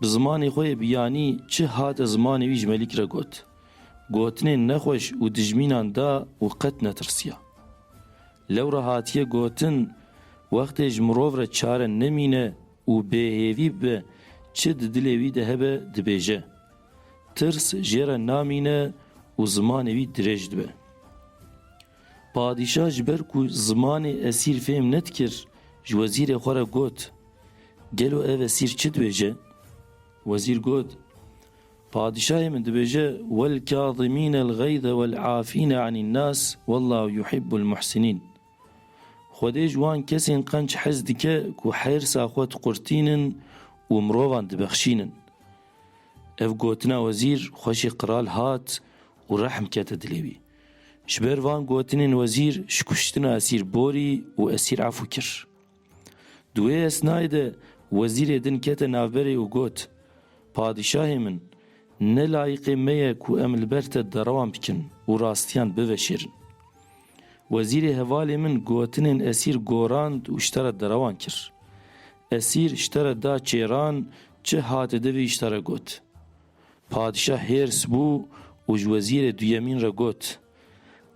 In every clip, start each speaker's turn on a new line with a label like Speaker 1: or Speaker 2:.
Speaker 1: Bi zimanê xwe yê biyanî çi hate zimanê wî ji Melîk re got. Gotinên nexweş û dijmînan da û qet netirsiya. Lewra hatiye gotin, wextê ji mirov re çare nemîne û bêhêvî bibe çi di dilê wî de hebe dibêje. Tirs jê re namîne û zimanê wî dirêj dibe. Padîşah ji ber ku zimanê esîr fêm nedikir ji wezîrê xwe re got, Gelo ev esîr çi dibêje? Wezîr got, Padîşahê min dibêje Welkâzimînel gayze wel'afîne anîn nas wallahu yuhibbul muhsinîn. Xwedê ji wan kesên qenc hez dike ku hêrsa xwe diqurtînin û mirovan dibexşînin. Ev gotina wezîr xweşê qral hat û rehm kete dilê wî. Ji ber van gotinên wezîr ji kuştina Esîr borî û Esîr Efû kir. Di wê esnayê de wezîrê din kete navberê û got, Padîşahê min, ne layiqê me ye ku em li ber te derewan bikin û rastiyan biveşêrin. Wezîrê hevalê min gotinên Esîr gorand û ji te re derewan kir. Esîr ji te re da çêran çi hate di vê îşda re got. Padîşah hêrs bû û ji wezîrê duyemîn re got,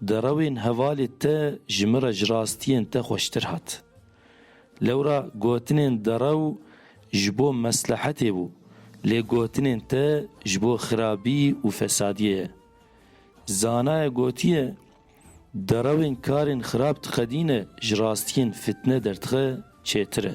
Speaker 1: Di rewên hevalê te ji min re ji rastiyên te xweştir hat. Lewra gotinên derew ji bo meslehetê bû, lê gotinên te ji bo xirabî û fesadiyê ye. Zanaye gotiye, Derewên karên xirab diqedîne ji rastiyên fitne derdixe çêtir e.